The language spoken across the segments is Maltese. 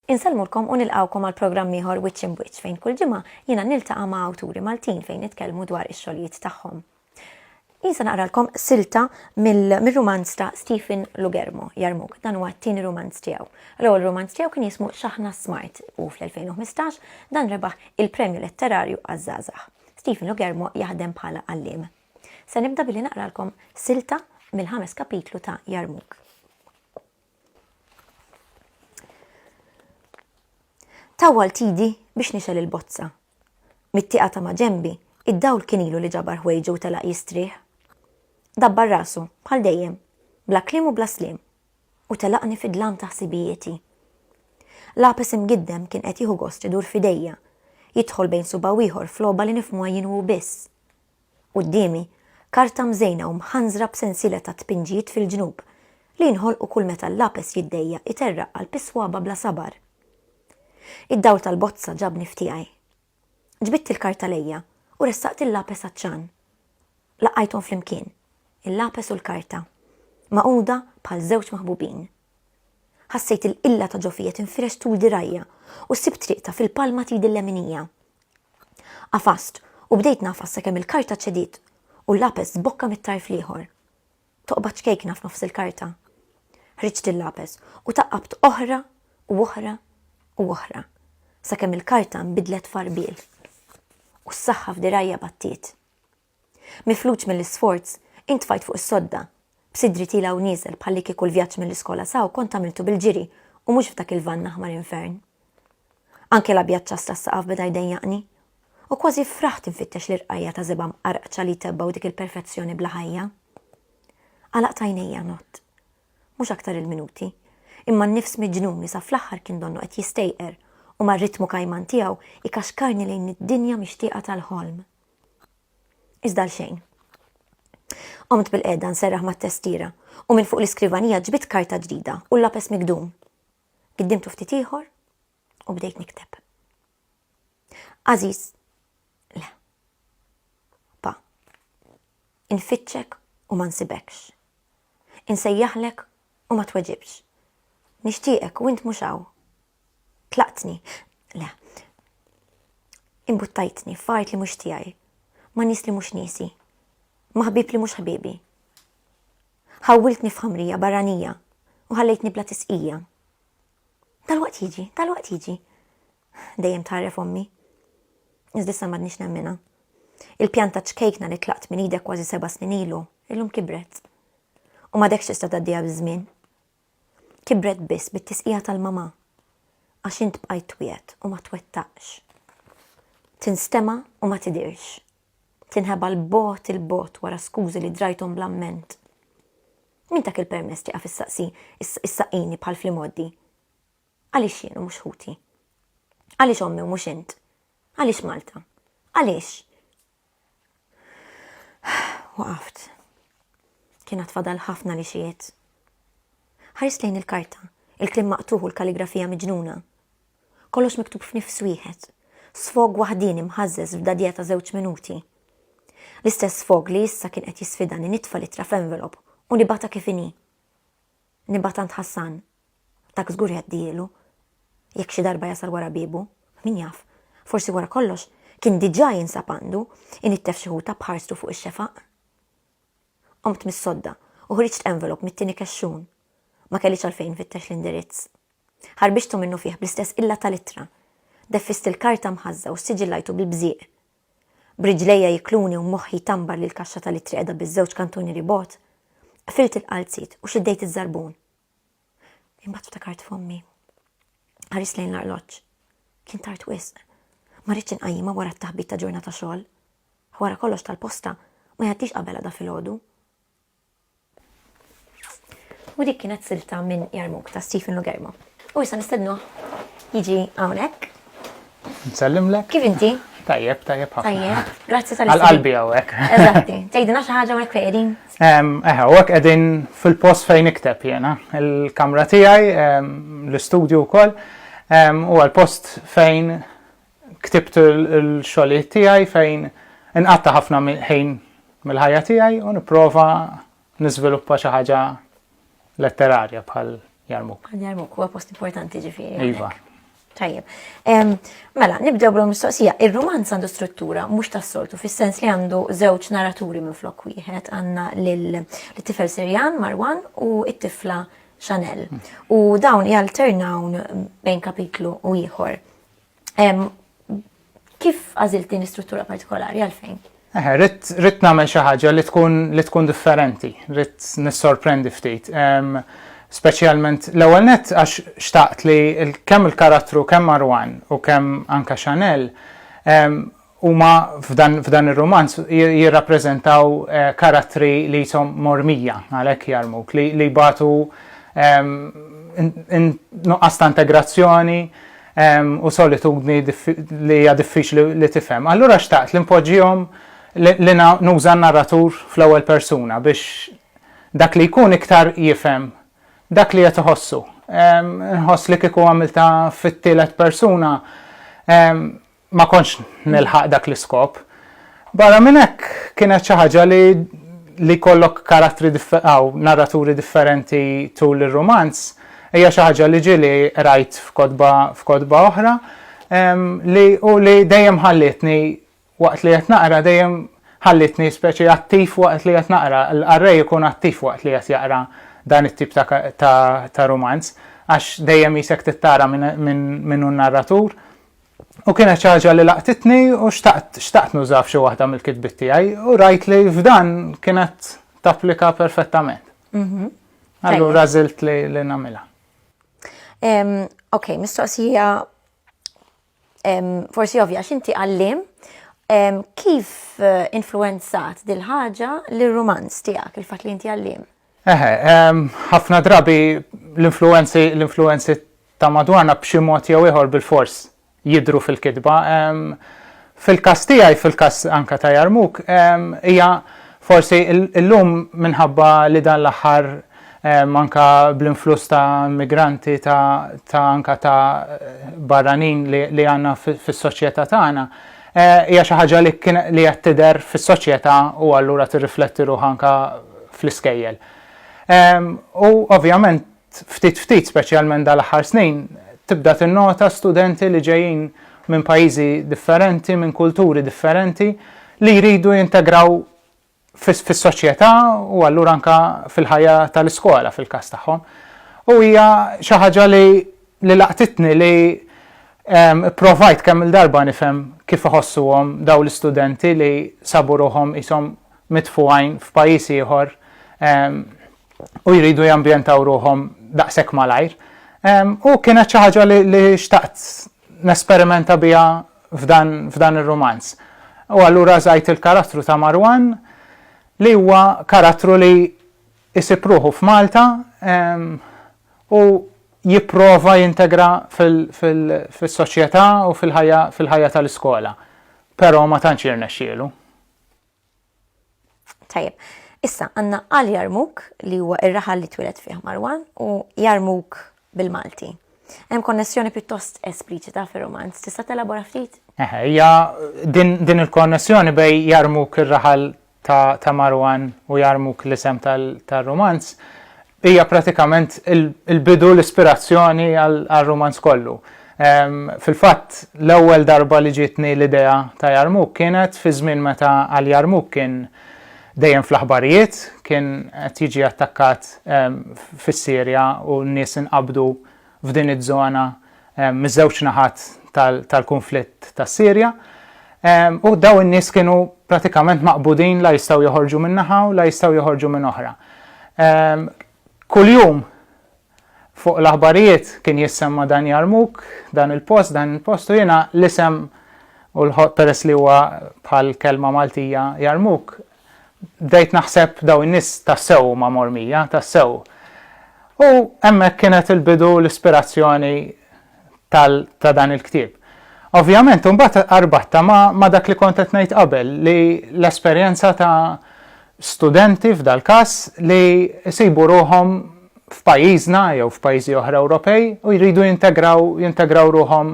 Insellmulkom u nilqawkom għal programm ieħor Wiċċ Imb Wiċċ fejn kull ġimgħa jiena niltaqa' ma' awturi Maltin fejn nitkellmu dwar ix-xogħlijiet tagħhom. Issa naqralkom silta mill-rumanz ta' Stephen Lugermo, Jarmuk, dan huwa t-tieni rumanz tiegħu. L-ewwel rumanz tiegħu kien jismu Xaħna Smart u fl-2015 dan rebaħ il-Premju Letterarju għaż-Żgħażagħ. Stephen Lugermo jaħdem bħala għalliem. Se nibda billi naqralkom silta mill-ħames kapitlu ta' Jarmuk. Tawwal tidi biex nixgħel il-bozza. Mit-tieqa ta' maġenbi, id-dawl kien ilu li ġabar ħwejġu u telaq jistrieħ. Dabbar rasu, bħal dejjem, bla kliem u bla sliem, u telaqni fid-dlam ta' ħsibijieti. L-għapes imgiddem kien qed jieħu gost idur f'idejja, jidħol bejn subgħa u ieħor f'logħba li nifhmuha jien u hu biss. Quddiemi, karta mżejna u mħanżra b'sensiela ta' tpinġijiet fil-ġnub, li jinħolqu kull meta l-lapes jiddejjaq iterraq qalb is-swaba' bla sabar. Id-dawl tal-bozza ġabni f'tiegħi. Ġbidt il-karta lejja u ressaqt il-lapes għat-ċan. Laqajthom flimkien, il-lapes u l-karta, magħquda bħal żewġ maħbubin. Ħassejt il-qilla ta' ġofija tinfirex tul dirgħajja u ssib triqtha fil-palma t'idi l-leminija, Għafast u bdejt ngħafas sakemm il-karta ċediet u l-lapes żbokka mit-tarf l-ieħor. Toqba ċkejkna f'nofs il-karta. Ħriġt il-lapes u taqqabt oħra u oħra u oħra sakemm il-karta nbidlet f'għarbiel u s-saħħa f'dirgħajja battiet. Mifluġ mill-isforz, intfajt fuq is-sodda. B'sidri tiela' u nieżel bħalli kieku l-vjaġġ mill-iskola s'hawn kont għamiltu bil-ġiri u mhux f'dak il-vann aħmar infern. Anke l-abjad ċass tas-saqaf beda jdejjaqni. U kważi ffraħt infittex l-irqajja ta' żebgħa mqarqċa li jtebbgħu dik il-perfezzjoni bla ħajja. Għalaqt għajnejja nott. Mhux aktar il-minuti. Imma n-nifs miġnun li sa fl-aħħar kien donnu qed jistejqer u mar-ritmu kajman tiegħu jkaxkarni lejn id-dinja mixtieqa tal-ħolm. Iżda għal xejn. Qomt bil-qeda nserraħ mat-testiera u minn fuq l-iskrivanija ġbidt karta ġdida u lapes migdum. Giddimtu ftit ieħor u bdejt nikteb. Aziz, le. Pa, infittxek u ma nsibekx. Insejjaħlek u ma tweġibx. Nixtieqek u int mhux hawn. Tlaqtni. Le. Imbuttajtni f'art li mhux tiegħi. Ma' nies li mhux niesi. Ma' ħbieb li mhux ħbiebi. Ħawwiltni f'ħamrija barranija u ħallejtni bla tisqija. Tal-waqt jiġi, tal-waqt jiġi. Dejjem tħarref ommi. Iżdissa m'għadniex nemmina. Il-pjanta ċkejkna li tlaqt minn idek kważi seba' snin ilu, illum kibret. U ma dekx tista' tgħaddiha biż-żmien. kibret biss bit-tisqija tal-mamà għax int bqajt twiegħed u ma twettaqx. Tinstema' u ma tidhirx. Tinħeba' 'l bogħod 'il bogħod wara skużi li drajthom bl-amment. Min tak il-permess tieqaf issaqsi issaqqini bħal fl-imgħoddi? Għaliex jien u mhux ħuti? Għaliex ommi u mhux int? Għaliex Malta? Għaliex? Waqaft. Kienet fadal ħafna li xiet. Ħares lejn il-karta, il-klim maqtuħ u l-kaligrafija miġnuna. Kollox miktub f'nifs wieħed. Sfog waħdin imħażżeż f'dadja ta' żewġ minuti. L-istess sfog li issa kien qed jisfidani nitfa' litra f'envelop u nibata kif inhi. Nibgħat għand Ħassan. Dak żgur jgħaddihielu. Jekk xi darba jasal wara biebu. Min jaf. Forsi wara kollox kien diġà jinsab għandu, inittef xi ħuta b'ħarstu fuq ix-xefaq. Qomt mis-sodda u ħriġt envelop mit-tieni kexxun. Ma kellix għalfejn infittex l-indirizz. Ħarbixtu minnufih bl-istess qilla tal-ittra. Deffist il-karta mħażża u ssiġillajtu bil-bżieq. B'riġlejja jikluni u moħħi jtambar li l-kaxxa tal-ittri qiegħda biż-żewġ kantuni ribgħod, qfilt il-qalziet u xeddejt iż-żarbun. Imbagħad ftakart f'ommi. Ħarist lejn l-arloġġ. Kien tard wisq. Ma rridx inqajjimha wara t-taħbit ta' ġurnata xogħol. Wara kollox tal-posta ma jgħaddix qabel għada filgħodu. U dik kienet silta minn Jarmuk ta' Stephen Lugermo. U issa nistednu jiġi hawnhekk. Nsellimlek. Kif inti? Tajjeb, tajjeb ħafna. Tajjeb, grazzi tal Għal-qalbi għawek. Eżatti, tgħidina xi ħaġa għawek fejn. Eħe, għawek qegħdin fil-post fejn ikteb jena. Il-kamra tiegħi, l-istudju wkoll, u għal-post fejn Ktibt il-xogħlijiet tiegħi fejn inqatta' ħafna ħin mill-ħajja tiegħi u nipprova niżviluppa xi ħaġa letterarja bħal Jarmuk. Jarmuk huwa post importanti ġifieri. Iva. Tajjeb. Mela, nibdew bl mistoqsija. Ir-romanz għandu struttura mhux tas-soltu, fis-sens li għandu żewġ narraturi minn flok wieħed għandna l-tifel Sirjan Marwan u t-tifla Chanel. U dawn jalternawn bejn kapitlu u ieħor. Kif għażilt din l-istruttura partikolari għalfejn? Eħe, rrit nagħmel xi ħaġa li tkun li tkun differenti, rrit nissorprendi ftit. Speċjalment l-ewwel nett għax xtaqt li kemm il-karattru kemm Marwan u kemm anka Chanel Huma f'dan ir-rumanz jirrappreżentaw karattri li qishom mormija, għalhekk Jarmuk, li jbatu nuqqas ta' integrazzjoni u solitudni li hija diffiċli li tifhem. Allura xtaqt li npoġġihom li nuża n-narratur fl-ewwel persuna biex dak li jkun iktar jifhem dak li qed iħossu. Nħoss li kieku għamiltha fit-tielet persuna ma kontx nilħaq dak l-iskop. Barra minn hekk kienet xi ħaġa li li jkollok karattri aw narraturi differenti tul ir-rumanz hija xi ħaġa li ġieli qrajt f'kotba f'kotba oħra li u li dejjem ħallietni waqt li qed naqra dejjem ħallietni speċi attiv waqt li qed naqra, l-qarrej ikun attiv waqt li qed jaqra dan it-tip ta', ta', ta rumanz għax dejjem qisek tittara minn min hu n-narratur U kienet xi ħaġa li laqtitni u xtaqt, xtaqt nużaha f'xi waħda mill-kitbiet tiegħi u rajt li f'dan kienet tapplika perfettament. Allura żilt li nagħmilha. Ok, mistoqsija forsi ovvja, x'inti għallim kif influenzat dil-ħaġa l-rumanz tiegħek, il-fatt li inti għallim? Eħe, ħafna drabi l-influwenzi l-influwenzi ta' madwarna b'xi mod jew ieħor bilfors jidhru fil-kitba. Fil-każ tiegħi, fil-każ anke ta' Jarmuk, hija forsi llum minħabba li dan l-aħħar anke bl-influss ta' immigranti ta' anke ta' barranin li għandna fis-soċjetà tagħna, Hija xi ħaġa li kien li qed tidher fis-soċjetà u allura tirrifletti ruħha anke fl-iskejjel. U ovvjament ftit ftit, speċjalment dal-aħħar snin, tibda tinnota studenti li ġejjin minn pajjiżi differenti, minn kulturi differenti li jridu jintegraw fis-soċjetà u allura anke fil-ħajja tal-iskola fil-każ tagħhom. U hija xi ħaġa li li laqtitni li pprovajt kemm-il darba nifhem kif iħossuhom dawn l-istudenti li sabu ruħhom qishom mitfugħin f'pajjiż ieħor u jridu jambjentaw ruħhom daqshekk malajr. U kienet xi ħaġa li xtaqt nesperimenta biha f'dan f'dan ir-rumanz. U allura żgħid il-karattru ta' Marwan li huwa karattru li jsib ruħu f'Malta ehm, u jipprova jintegra fil-soċjetà u fil-ħajja fil-ħajja tal-iskola. Però ma tantx jirnexxielu. Tajjeb, issa għandna għal Jarmuk li huwa ir-raħal li twieled fih Marwan u Jarmuk bil-Malti. Hemm konnessjoni pjuttost espliċita fir-romanz, tista' telabora ftit? Eħe, hija din il-konnessjoni bej Jarmuk ir-raħal ta' Marwan u Jarmuk l-isem tar-romanz Hija pratikament il-bidu, l-ispirazzjoni għar-rumanz kollu. Fil-fatt, l-ewwel darba li ġietni l-idea ta' Jarmuk kienet fi żmien meta għal Jarmuk kien dejjem fl-aħbarijiet, kien qed jiġi attakkat fis-Sirja u n-nies inqabdu f'din iż-żona miż-żewġ naħat tal-kunflitt tas-Sirja u dawn in-nies kienu pratikament maqbudin la jistgħu joħorġu minn naħa u la jistgħu joħorġu minn oħra. Kuljum fuq l-aħbarijiet kien jissemma dan Jarmuk, dan il-post, dan il-post u jiena l-isem u l-ħoq peress li huwa bħal kelma Maltija Jarmuk, bdejt naħseb dawn in-nies tassew huma mormija, tassew. U hemmhekk kienet il-bidu l-ispirazzjoni ta' dan il-ktieb. Ovvjament, imbagħad arbatta ma' dak li kont qed ngħid qabel li l-esperjenza ta' studenti f'dal-każ li jsibu ruħhom f'pajjiżna jew f'pajjiżi oħra Ewropej u jridu jintegraw jintegraw ruħhom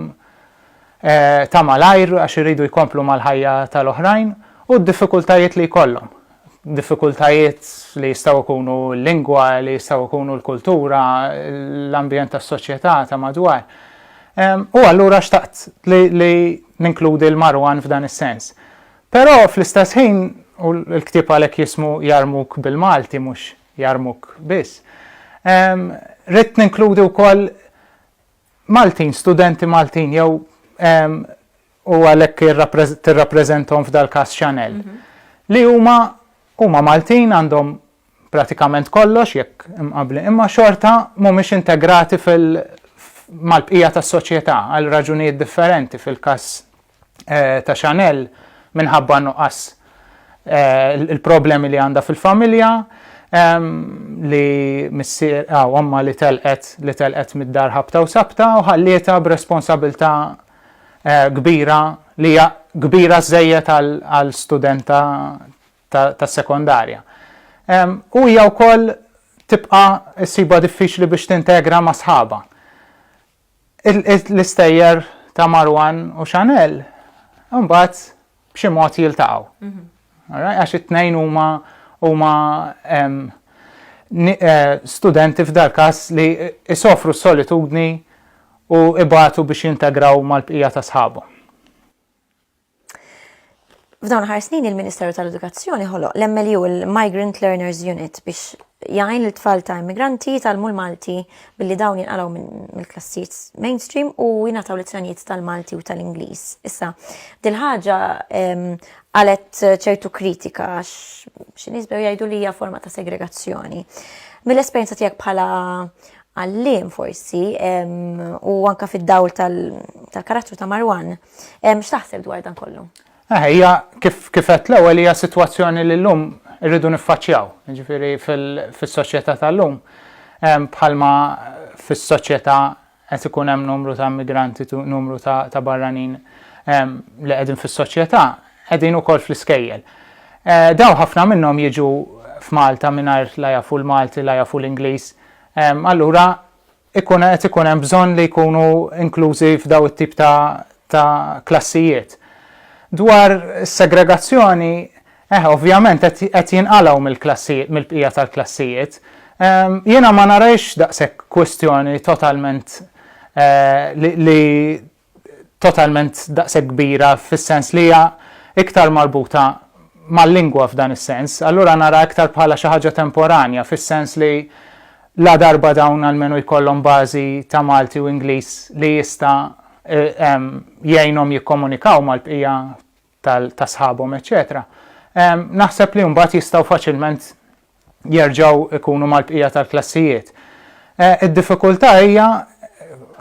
ta' malajr għax iridu jkomplu mal-ħajja tal-oħrajn u d-diffikultajiet li jkollhom. Diffikultajiet li jistgħu jkunu l-lingwa, li jistgħu jkunu l-kultura, l-ambjent tas-soċjetà ta' madwar. U allura xtaqt li ninkludi l-Marwan f'dan is-sens. Però fl-istess ħin, u l-ktieb għalhekk jismu Jarmuk bil-Malti mhux Jarmuk biss, ridt ninkludi wkoll Maltin, studenti Maltin jew u għalhekk tirrappreżentahom f'dal-każ Chanel, li huma huma Maltin għandhom pratikament kollox jekk imqabbli, imma xorta mhumiex integrati fil mal-bqija tas-soċjetà għal raġunijiet differenti fil-każ ta' Chanel minħabba nuqqas il-problemi li għandha fil-familja li missier għaw omma li telqet li telqet mid-dar ħabta u sabta u ħallieta b'responsabilta kbira li hija kbira żżejjed għal studenta tas-sekondarja. U hija wkoll tibqa' ssibha diffiċli biex tintegra ma' sħabha. L-istejjer ta' Marwan u Chanel imbagħad b'xi mod jiltaqgħu. Għax it-tnejn huma huma eh, studenti f'dal-każ li isofru s-solitudni u ibatu biex jintegraw mal-bqija ta' sħabhom. F'dawn ħar snin il-Ministeru tal-Edukazzjoni ħoloq l-MLU il-Migrant Learners Unit biex jgħin l tfal ta' immigranti tal-mu l-Malti billi dawn jinqalaw mill-klassijiet mainstream u jingħataw lezzjonijiet tal-Malti u tal-Ingliż. Issa, dil-ħaġa għalet ċertu kritika għax xi nisbew jgħidu li hija forma ta' segregazzjoni. Mill-esperjenza tiegħek bħala għalliem forsi, u anka fid-dawl tal-karattru ta' Marwan, x'taħseb dwar dan kollu? Eh, hija kif kifet l-ewwel hija sitwazzjoni li llum irridu niffaċċjaw, ġifieri fis-soċjetà tal-lum bħalma fis-soċjetà qed ikun hemm numru ta' immigranti, numru ta' barranin li qegħdin fis-soċjetà, qegħdin ukoll fl-iskejjel. Eh, daw ħafna minnhom jiġu f'Malta mingħajr la jafu l-Malti, la jafu l-Ingliż, allura ikun qed ikun hemm bżonn li jkunu inklużi f'daw it-tip ta' ta' klassijiet. Dwar is-segregazzjoni, eh, ovvjament qed qed jinqalgħu mill-klassijiet, mill-bqija tal-klassijiet. Jiena ma narajhx daqshekk kwistjoni totalment li totalment daqshekk kbira fis-sens li hija iktar marbuta mal-lingwa f'dan is-sens, allura naraha iktar bħala xi ħaġa temporanja fis-sens li ladarba dawn almenu jkollhom bażi ta' Malti u Ingliż li jista' jgħinhom jikkomunikaw mal-bqija ta' sħabhom eċċetera, naħseb li mbagħad jistgħu faċilment jerġgħu jkunu mal-bqija tal-klassijiet. Id-diffikultà hija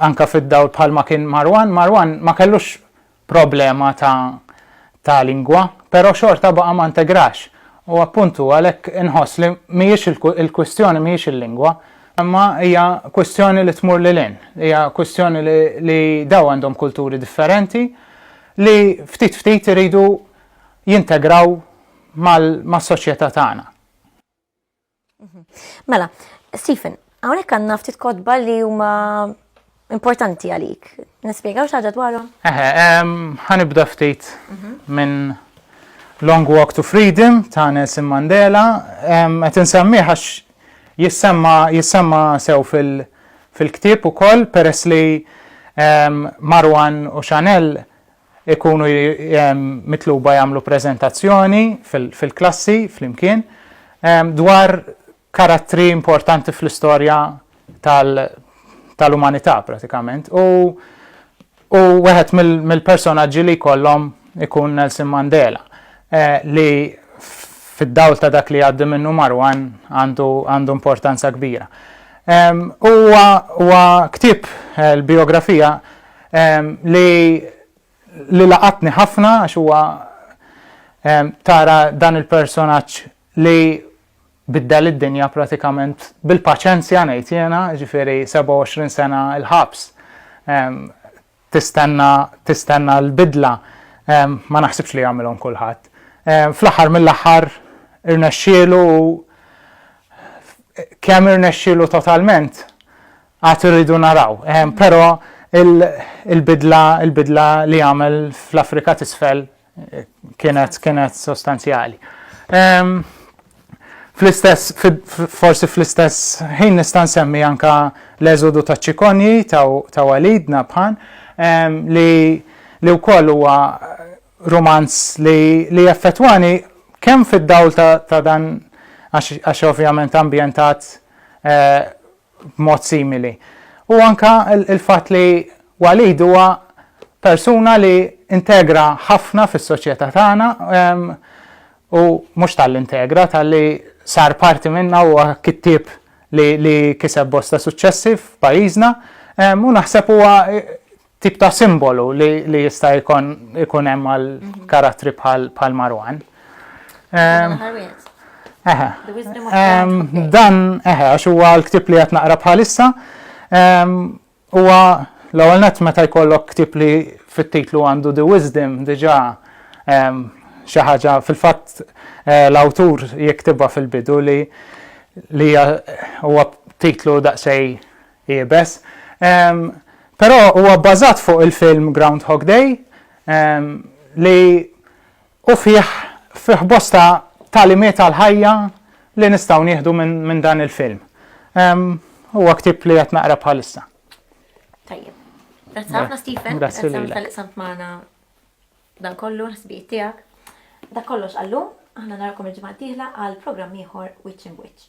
anke fid-dawl bħalma kien Marwan, Marwan ma kellux problema ta' ta' lingwa, però xorta baqa' ma ntegrax. U appuntu għalhekk inħoss li mhijiex il-kwistjoni mhijiex il-lingwa, imma hija kwistjoni li tmur lil hinn, hija kwistjoni li dawn għandhom kulturi differenti, li ftit ftit iridu jintegraw mas-soċjetà tagħna. Mela, Stephen, hawnhekk għandna ftit kotba li huma importanti għalik. Nispjegaw xi ħaġa dwarhom? Eħe, ħanibda ftit mhm. minn Long Walk to Freedom ta' Nelson Mandela, qed insemmiħ għax Jissemma jissemma sew fil fil-ktieb ukoll peress li Marwan u Chanel ikunu mitluba jagħmlu preżentazzjoni fil fil-klassi flimkien dwar karattri importanti fl-istorja tal tal-umanità pratikament u U wieħed mill-personaġġi li jkollhom ikun Nelson Mandela, li fid-dawl ta' dak li jgħaddi minnu Marwan għandu importanza kbira. U huwa ktieb l-bijografija li laqatni ħafna għax huwa tara dan il-personaġġ li biddel id-dinja pratikament bil-paċenzja ngħid jiena, jiġifieri 27 sena l-ħabs tistenna tistenna l-bidla ma naħsibx li jagħmilhom kulħadd. Fl-aħħar mill-aħħar irnexxielu u kemm irnexxielu totalment għad irridu naraw. Però il-bidla il-bidla li għamel fl-Afrika t'isfel Kienet, kienet sostanzjali. Ehm, fl-istess, forsi fl-istess ħin nista' nsemmi anka l-eżodu ta' ċikonji ta' walidna bħan ehm, li li wkoll huwa romanz li li effettwani kemm fid-dawl ta' dan għax ovvjament ambjentat eh, b'mod simili. U anke l-fatt li Walid huwa persuna li integra ħafna fis-soċjetà tagħna u mhux talli integra, talli sar parti minnha u huwa kittieb li kiseb bosta suċċessi f'pajjiżna u naħseb huwa tip ta' simbolu li jista' jkun hemm għal mhm. karattri bħal Marwan. Dan eħe għax huwa l-ktib li qed naqra bħalissa huwa l-ewwel nett meta jkollok ktib li fit-titlu għandu The Wisdom diġà xi ħaġa fil-fatt eh, l-awtur jiktibha fil-bidu li li huwa titlu daqsej iebes. Però huwa bbażat fuq il-film Groundhog Day li u fih fih bosta tagħlimiet għall-ħajja li nistgħu nieħdu minn dan il-film. Huwa ktieb li qed naqra bħalissa. Tajjeb. Grazzi ħafna Stephen. Grazzi lilek. Tal-li samt magħna dan kollu l-ħsbijiet tiegħek. Da kollox għallu, aħna narakom il-ġimgħa tieħla għal programm ieħor Witch in Witch.